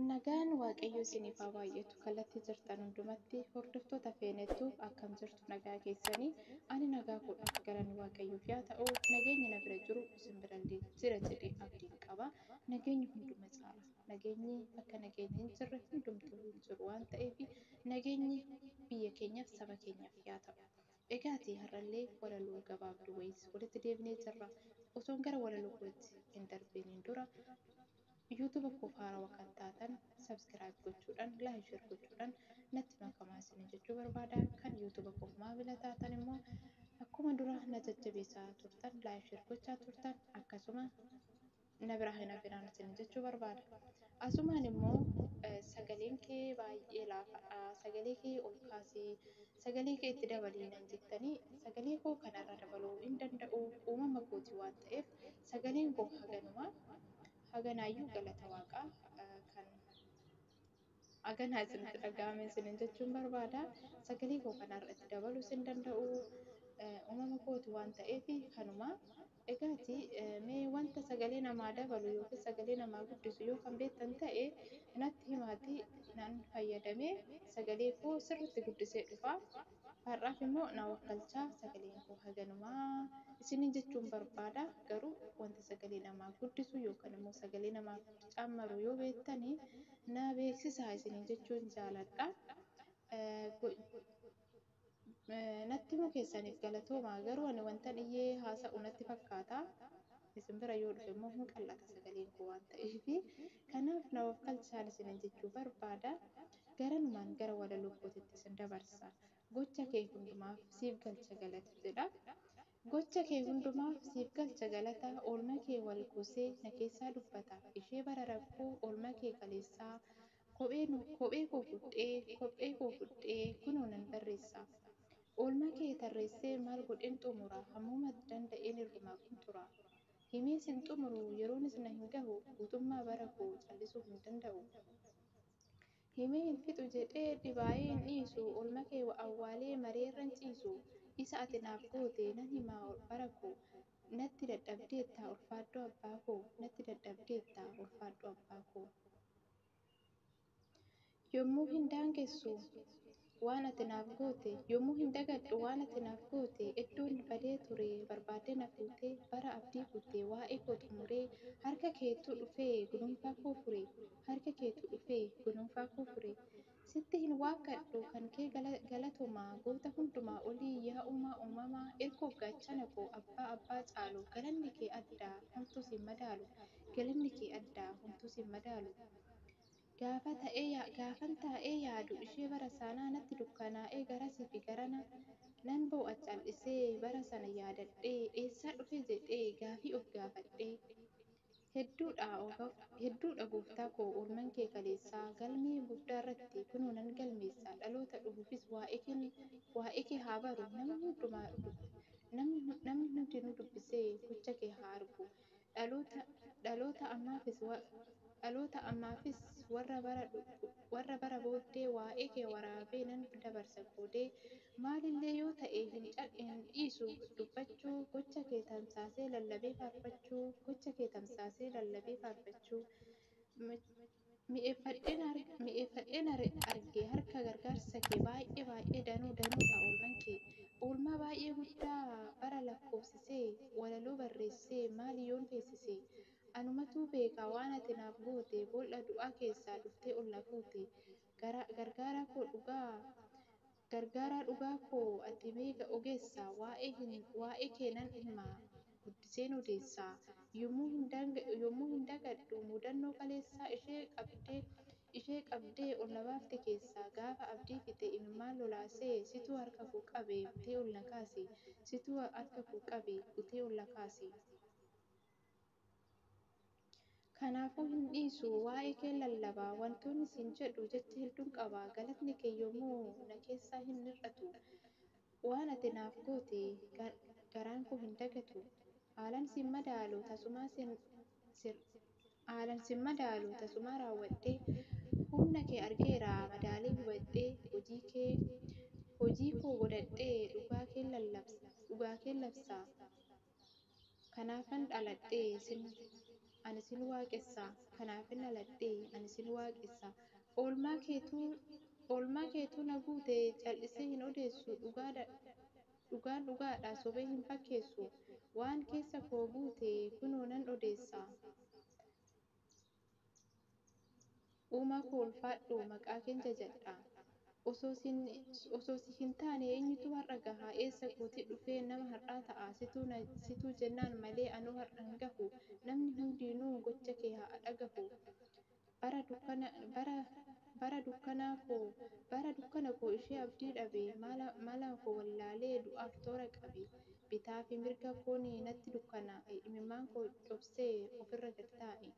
Nagaan Waaqayyoo isiniif haa baay'atu. Kallattii jirtan hundumatti hordoftoota feenettu akkam jirtu nagaa keessanii ani nagaa koodha galanni Waaqayyoof yaa ta'u nageenyi na bira jiru isin birallee jira jedhee abdiin qaba. Nageenyi hunduma caala. Nageenyi bakka nageenyi hin jirre hundumtuu hin jiru waan ta'eef nageenyi biyya keenyaaf saba keenyaaf yaa ta'u. Egaati har'allee walaloo gabaabduu wayiis walitti deebinee jirra. Osoon gara walaloo kootti hin darbiiniin dura YouTube koof haarawa kan taatan subscribe gochuudhaan like share gochuudhaan natti makamaa isiniin jechuu barbaada. Kan YouTube koof maamila taatan immoo akkuma dura na jajjabeessaa turtan like share gochaa turtan akkasuma na biraa hin hafinaan isin jechuu barbaada. Asumaan immoo sagaleen kee baay'ee laafadha sagalee kee ol kaasii sagalee kee itti dabalii nan jettanii sagalee koo kana irra dabaluu hin danda'u uumama kooti waan ta'eef sagaleen koo haganuma haganaayyuu galata waaqaa kan Aganaa isinitti dhaga'ame isiniin jechuun barbaada. Sagalee koo kana irratti dabaluus hin danda'u. Uumama kooti waan ta'eef kanuma. Egaati mee wanta sagalee namaa dabalu yookiin sagalee namaa guddisu yoo kan beektan ta'e natti himaati nan fayyadamee sagalee koo sirriitti guddisee dhufa. Har'aaf immoo na wakkalcha sagaleen koo haganuma isiniin jechuun barbaada. Garuu wanta sagalee namaa guddisu yookaan immoo sagalee namaaf cammaru yoo beektan na beeksisaa isiniin jechuun jaaladha. Natti himuu keessaniif galatoomaa garuu ani wantan iyyee haasa'u natti fakkaata. Isin bira yoo dhufe immoo hin qal'ata sagaleen koo waan ta'eef. Kanaaf na of kalchaan isiniin jechuu barbaada. Garanumaan gara walaloo kootitti isin dabarsa. Gocha kee hundumaaf siif galcha galata jedha. Gocha kee hundumaaf siif galcha galata oolma kee wal kuusee na keessaa dubbata. Ishee bara rakkoo oolma kee kaleessaa Kophee nu Kophee koo fudhee Kophee koo fudhee Kunoo nan barreessa Oolmaa kee tarreessee Maal godheen xumura Hammuma danda'een irrumaa qunxura Himee sin xumuru Yeroonis na hin gahu Guutummaa bara koo Callisuu hin danda'u Himee hin fixu jedhee Dhibaa'ee hin dhiisu Oolma kee wa awwaalee Maree irran ciisu Isa ati naaf goote Nan hima bara koo Natti dadhabdeetta Ulfaadhu abbaa koo Natti dadhabdeetta Ulfaadhu abbaa koo. Yommuu hin daangessu waan ati naaf goote Yommuu hin dagadhu waan ati naaf goote Eddoon badee ture barbaaddee na fuutee Bara abdii kutte waa'ee koo xumuree Harka keetu dhufee gununfaa koo fure Harka keetu dhufee gununfaa koo fure Sitti hin waakkadhu kan kee galatomaa goota hundumaa olii yaa uumaa uumamaa irkoo gaachana koo abbaa abbaa caalu galanni kee addaa homtuu siin madaalu galanni kee addaa homtuu siin madaalu gaafa ta'ee gaafan taa'ee yaadu ishee bara saanaa natti dukkanaa'ee garasi fi garana nan boo'a cal'isee bara sana yaadadhee eessaa dhufee jedhee gaafii of gaafadhee Hedduu dha Otof, hedduu dha Gooftaa koo Oolman kee kaleessaa Galmee guddaa irratti kunoo nan galmeessa Dhaloota dhufuufis waa'eekeen waa'eekee haa baru Nama hundumaa dub Namni hundinuu dubbisee gocha kee haa argu Dhaloota dhaloota ammaafis wa dhaloota ammaafis Warra bara warra bara booddee Waa'eekee waraabee nan dabarsa qoodee Maalillee yoo ta'e hin cadhu hin dhiisu dubbachuu gocha kee tamsaasee lallabee faarfachuu gocha kee tamsaasee lallabee faarfachuu Mi'eeffadheen arge harka gargaarsa kee baay'ee baay'ee danuu danuudha oolman kee Oolmaa baay'ee guddaa bara lakkoofsisee walaloo barreessee maali yoon feesise Anumatuu beeka waan ati naaf goote Boolla du'aa keessaa dhuftee ol na fuute Garaa gargaaraa koo dhugaa Gargaaraa dhugaa koo ati beeka ogeessa Waa'ee hin waa'ee kee nan dhimma Guddiseen odeessa Yommuu hin daang yommuu hin dagadhu Mudannoo kaleessaa Ishee qabdee ishee qabdee Ol na baafte keessaa Gaafa abdii fixe Imimmaan lolaasee Situ harka koo qabe Butee ol na kaase Situ harka koo qabe Butee ol na kaase. Kanaafuu hin dhiisu, waa'ee kee lallaba. Wantoonni siin jedhu jecha hedduun qaba, galatni kee yoomuu na keessaa hin hir'atu. Waan ati naaf goote garaan koo hin dagatu. Haalan sin madaalu, tasumaa sin Haalan sin madaalu, tasumaa raawwadhee. Humna kee argeera, madaalee hubadhee. Hojii kee hojii koo godhadhee, dhugaa keen lallabsa, dhugaa keen labsa. Kanaafan dhaladhe sin ani sin waaqessa Kanaafin dhaladhe ani sin waaqessa Oolmaa keetu oolmaa keetu na guute Cal'isee hin odeessu dhugaadha dhugaan dhugaadha Sobee hin fakkeessu Waan keessa koo guute kunoo nan odeessa Uumaa koo ulfaadhu, maqaa keen jajadha. Osoo si, osoo si hin taane eenyutu har'a gaha? Eessa kooti dhufeen nama har'aa ta'a? Situ na, situ jennaan malee anuu har'a hin gahu. Namni hundiinuu gocha kee haa dhagahu. Bara dukkana, bara, bara dukkanaa koo, bara dukkana koo ishee abdii dhabe, mala, mala koo wallaalee du'aaf toora qabe. Bitaa fi mirga koon natti dukkanaa'e, imimmaan koo cobsee ofirra gad taa'e.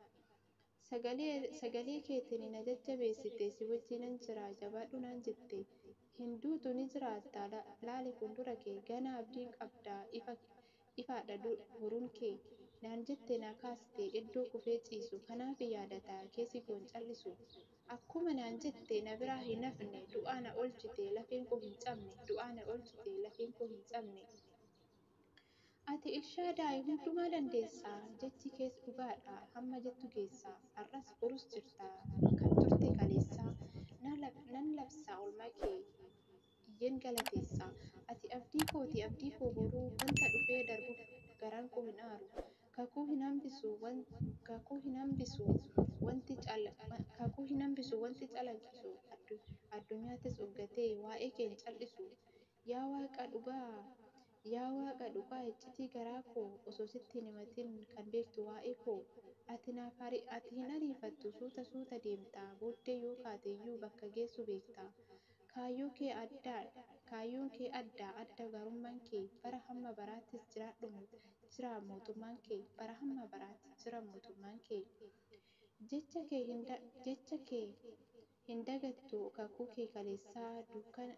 Sagalee, sagalee keetiin na jajjabeessite, si wajjinan jira, jabaadhu naan jette. Hin duutu ni jiraatta, la, laali fuuldura kee, ganaa abdiin qabda, ifa, ifaadha du, boruun kee. Naan jette na kaaste, iddoo kufee ciisu, kanaafii yaadata kee si goon cal'isu. Akkuma naan jette na biraa hin hafne Du'aa na oolchite lafeen koo hin cabne Du'aa na oolchite lafeen koo hin cabne Ati Elshaadaayi hundumaa dandeessa Jechi kees dhugaadha hamma jettu geessa Har'as borus jirta kan turte kaleessa Nan labsa oolmaa kee iyyen galateessa. Ati abdii koo ti, abdii koo boruu, wanta dhufee darbuuf garaan koo hin aaru. Kakuu hin hambisu, kakuu hin hambisu, wanti kakuu hin hambisu, wanti calaqqisu addunyaattis uggatee waa'ee kee hin cal'isu. Yaa Waaqa dhugaa, Yaa Waaqa dhugaa iccitii garaa koo osoo sitti hin himatin kan beektu waa'ee koo ati naaf hari ati hin ariifattu suuta suuta deemta booddee yoo kaate iyyuu bakka geessu beekta kaayyoo kee adda kaayyoon kee adda adda gaarumman kee bara hamma baraattis jiraadhu mot jira mootummaan kee bara hamma baraatti jira mootummaan kee jecha kee hin jecha kee Hin dagattu kakuu kee kaleessaa Dukkana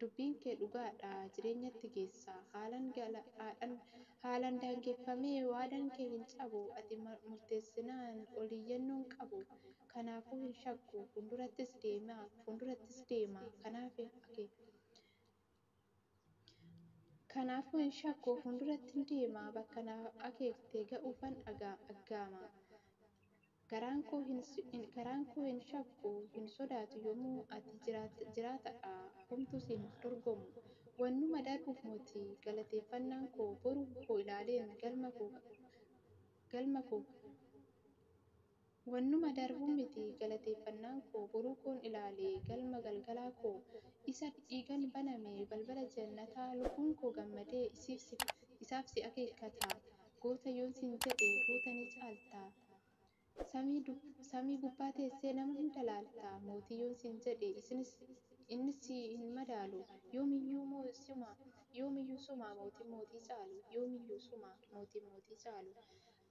Dubbiin kee dhugaa dha Jireenyatti geessa Haalan galaadhan Haalan daangeffamee Waadaan kee hin cabu Ati murteessinaan Ol iyyannoon qabu Kanaafuu hin shakku Fuuldurattis deema Fuuldurattis deema Kanaafi ake Kanaafuu hin shakku fuuldurattin deema, bakka na akeekte ga'uufan aggaama. Garaan koo hin shakku, hin sodaatu yoomuu ati jiraatadha, homtuu si hin dorgomu. Wannuma darbuuf moti, galateeffannaan koo boru koo ilaaleen galma koo Wannuma darbu miti galateeffannaan koo, boruu koon ilaale galma galgalaa koo, isa dhiigan baname balbala jannataa, lubbuun koo gammadee isiif si, isaaf si akeekkata, goota yoon siin jedhe goota ni caalta, samii dub, samii gubbaa teessee nama hunda laalta, mootii yoon siin jedhe isinis, innis si hin madaalu, yoomiyyuu moo suma, yoomiyyuu suma mootiin mootii caalu, yoomiyyuu suma mootiin mootii caalu,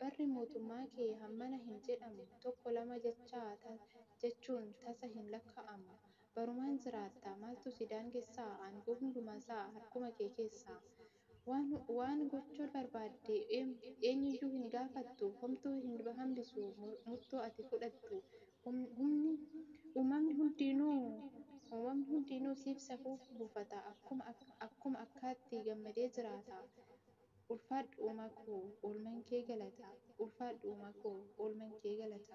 Barri mootummaa kee hammana hin jedhamu, tokko lama jechaa ta, jechuun tasa hin lakkaa'amu. Barumaan jiraatta, maaltu si daangessa? Aangoo hundumaasaa harkuma kee keessa. Waan, waan gochuu barbaadde eenyuyyuu hin gaafattu, homtuu hin hambisu murtoo ati fudhattu. Humni, uumamni hundiinuu, uumamni hundiinuu siif safuu buufata, akkuma, akkuma akkaatti gammadee jiraata. Ulfaadhu Uma koo oolman kee galata Ulfaadhu Uma koo oolman kee galata.